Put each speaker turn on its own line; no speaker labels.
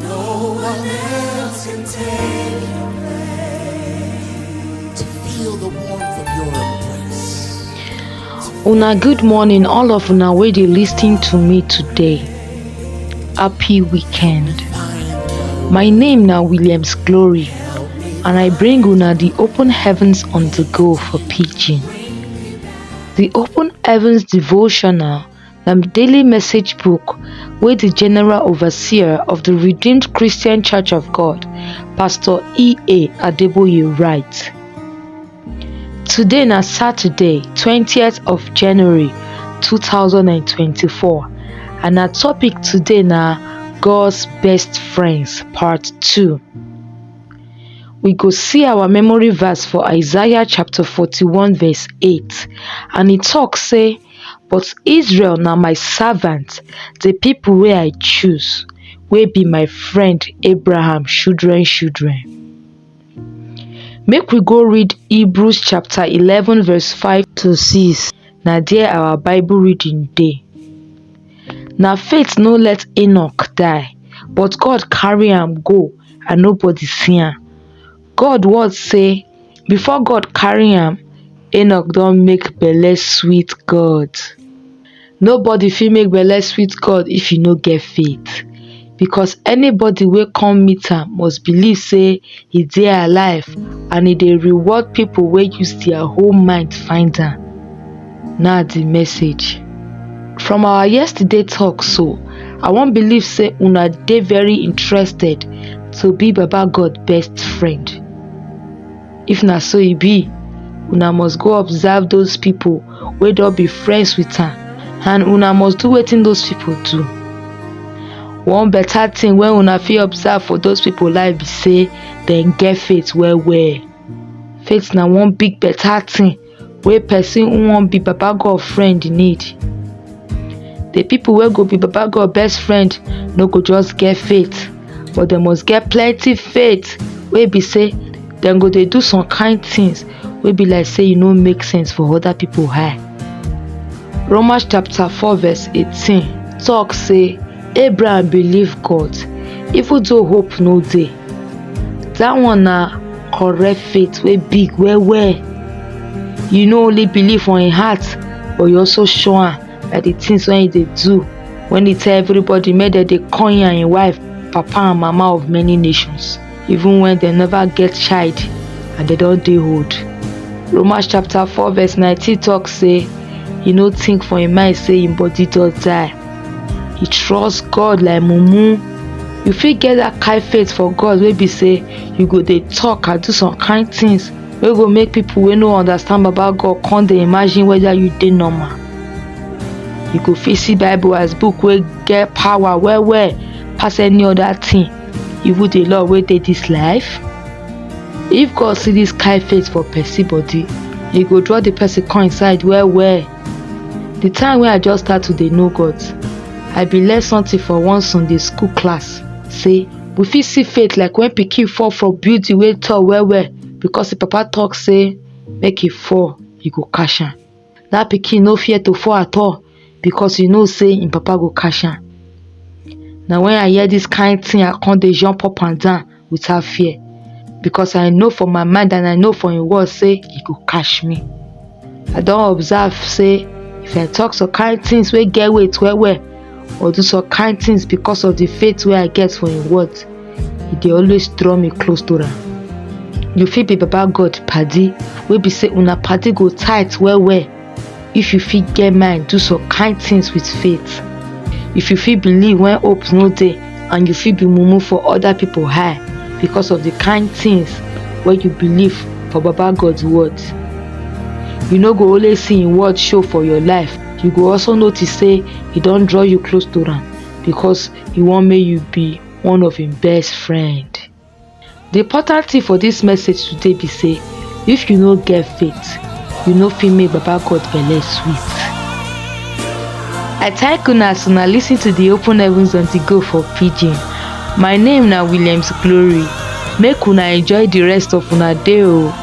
No one else can take your place. To feel the warmth of your embrace. Una good morning, all of una wey dey listening to me today. Happy weekend. My name na Williams Glory, and I bring una the Open Heavens on the Go for Pidgin. The Open Heavens devotional na di daily message book wey di general overseer of di redeemed christian church of god pastor ea adeboye write today na saturday 20th of january 2024 and our topic today na god's best friends part 2 we go see our memory verse for isaiah chapter 41 verse 8 and e tok say but israel na my servant di pipo wey i choose wey be my friend abraham children children make we go read hebrews chapter eleven verse five to six na there our bible reading dey na faith no let Enoch die but God carry am go and nobody see am God word say before God carry am, Enoch don make belle sweet God. Nobody fit make belle sweet God if you no get faith because anybody wey come meet am must believe say he dey alive and he dey reward people wey use their whole mind find am. na the message from our yesterday talk so i wan believe say una dey very interested to be baba god best friend if na so e be una must go observe those people wey don be friends with am and una must do wetin those people do one better thing wey una fit observe for those people life be say dem get faith well well faith na one big better thing wey person who wan be baba God friend need. The people wey go be baba God best friend no go just get faith but dem must get plenty faith wey be say dem go dey do some kind things wey be like say e no make sense for other people eye. Romans chapter 4 verse 18 talk say Abraham believe God even though hope no dey. That one na correct faith wey big well well. You no only believe for im heart but you also show am by the things wey you dey do when you tell everybody make dem dey call im and im wife papa and mama of many nations. even when dem never get child and dem don dey old. Romans chapter 4 verse 19 talk say he no think for him mind say him body don die. He trust God like mumu. You fit get that kind faith for God wey be say you go dey talk and do some kind things wey go make people wey no understand baba God come dey imagine whether you dey normal. You go fit see bible as book wey get power well well pass any other thing You would the law wey dey this life? If God see this kind face for person body, he go draw the person come inside well well. The time wey I just start to dey know God, I bin learn something for one Sunday school class say we fit see faith like when pikin fall from building wey tall well well because him papa talk say make he fall, he go catch am. that pikin no fear to fall at all because he know say him papa go catch am na when i hear this kind thing i come dey jump up and down without fear because i know for my mind and i know for him word say he go catch me i don observe say if i talk some kind things wey get weight well well or do some kind things because of the faith wey I get for im word, e dey always draw me close to am. You fit be baba God padi wey be say una padi go tight well well if you fit get mind do some kind things with faith. If you fit believe when hope no dey and you fit be mumu for other people high because of the kind things wey you believe for baba God word. You no go only see im word show for your life. you go also notice say he don draw you close to am because he wan make you be one of him best friend. The important thing for this message today be say if you no get faith, you no fit make Baba God belle sweet. I thank una as una lis ten to the open heavens on the go for pidgin. My name na Williams Glory. Make una enjoy the rest of una day o.